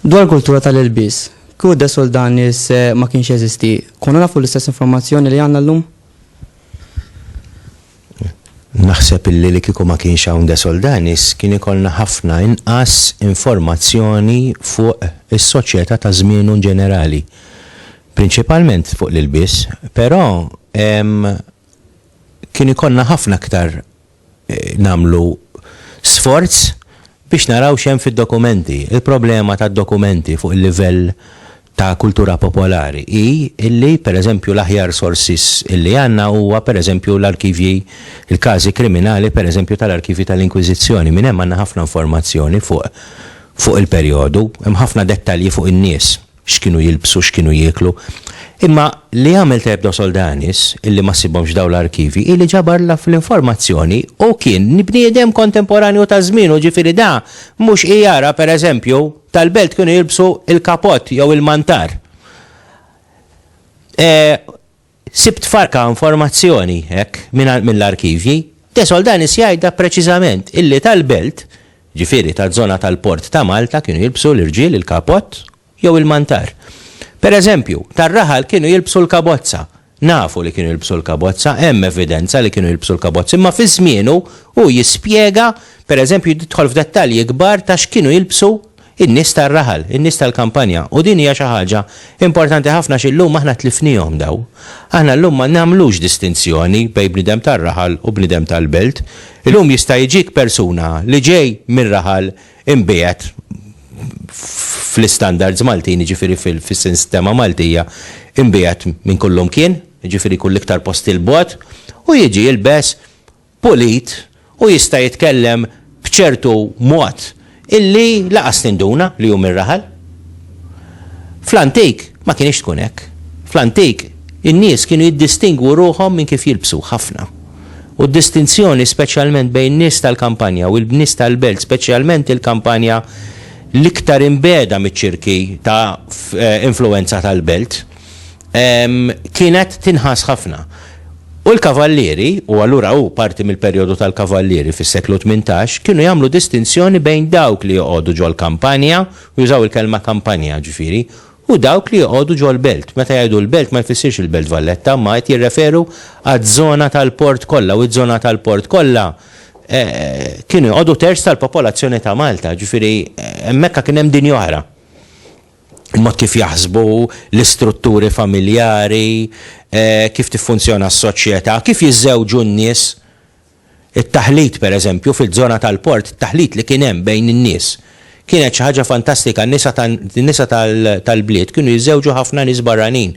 Dwar kultura tal-ilbis, kieku desol dan is eh, ma kienx jeżisti, konna nafu l-istess informazzjoni li għandna llum? Naħseb illi li kieku ma kienx hawn De Soldanis kien ikollna ħafna inqas informazzjoni fuq is-soċjetà ta' żmienu inġenerali, prinċipalment fuq l-ilbies, però kien ikollna ħafna aktar nagħmlu sforz. Biex naraw x'hemm fid-dokumenti. Il-problema tad-dokumenti fuq il-livell ta' kultura popolari hi illi, per eżempju, l-aħjar sources illi għandna huwa, per eżempju, l-arkivji, il-każi kriminali, per eżempju, tal-arkivji tal-Inkwiżizzjoni. Minn hemm għandna ħafna informazzjoni fuq fuq il-perjodu. Hemm ħafna dettalji fuq in-nies. x'kienu jilbsu, x'kienu jieklu. Imma li għamel tajjeb Dos Oldanis, illi ma ssibhomx f'dawn l-arkivji, hi li ġabar l-aff l-informazzjoni u kien bniedem kontemporanju ta' żmienu, ġifieri da mhux ijara, pereżempju, tal-belt kienu jilbsu l-kapott jew il-mantar. Sibt farka informazzjoni hekk mingħand mill-arkivji. De Soldanis jgħidha preċiżament illi tal-belt, ġifieri taż-żona tal-port ta' Malta kienu jilbsu l-irġiel il-kapott jew il-mantar. Per eżempju, tar-raħal kienu jilbsu l-kabozza. Nafu li kienu jilbsu l-kabozza, hemm evidenza li kienu jilbsu l-kabozza imma fi żmienu hu jispjega, per eżempju jidħol f'dettalji kbar ta' x'kienu jilbsu in-nies tar-raħal, in-nies tal-kampanja, u din hija xi ħaġa importanti ħafna għax illum aħna tlifniehom dawn. Aħna llum ma nagħmlux distinzjoni bejn bniedem tar-raħal u bniedem tal-belt. Illum jista' jiġik persuna li ġej mir-raħal imbiegħed fl-istandards Maltin, jiġifieri fis-sistema Maltija, imbiegħed minn kullumkien, jiġifieri jkun l-iktar post 'il bogħod, u jiġi jilbes pulit u jista' jitkellem b'ċertu mod illi laqas tinduna li hu mir-raħal. Fl-antik ma kinitx tkun hekk. Fl-antik in-nies kienu jiddistingwu ruħhom minn kif jilbsu, ħafna. U d-distinzjoni speċjalment bejn in-nies tal-kampanja u l-nies tal-belt, speċjalment il-kampanja l-iktar imbiegħda miċ-ċirki ta' influwenza tal-belt, kienet tinħass ħafna. U l-kavallieri, u allura hu parti mill-perjodu tal-kavallieri fis-seklu tmintax, kienu jagħmlu distinzjoni bejn dawk li joqogħdu ġol-kampanja, u jużaw il-kelma kampanja, ġifieri, u dawk li joqogħdu ġol-belt. Meta jgħidu l-belt ma jfissirx il-Belt Valletta, imma qed jirreferu għaż-żona tal-port kollha, u ż-żona tal-port kollha kienu joqogħdu terz tal-popolazzjoni ta' Malta, ġifieri hemmhekk kien hemm dinja oħra. ma' kif jaħsbu l-istrutturi familjari, kif tiffunzjona s-soċjetà, kif jiżżewġu n-nies. It-taħlit, pereżempju, fiż-żona tal-port, it-taħlit li kien hemm bejn in-nies, kienet xi ħaġa fantastika. N-nisa n-nisa tal-bliet kienu jiżżewġu ħafna nies barranin.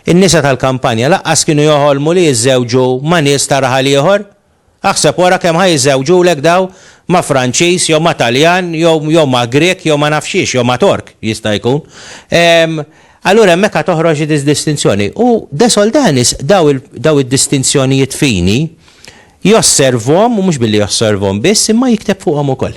In-nisa tal-kampanja laqqas kienu joħolmu li jiżżewġu ma' nies ta' raħal ieħor. Aħseb wara kemm ħa jiżżewġulek dawn ma' Franċiż jew ma' Taljan jew jew ma' Grieg jew ma naf x'hiex jew ma' Tork jista' jkun. Ehm, allura hemmhekk ħa toħroġ id-distinzjoni. U De Soldanis daw il, daw id-distinzjonijiet fini josservhom u mhux billi josservhom biss imma jikteb fuqhom ukoll.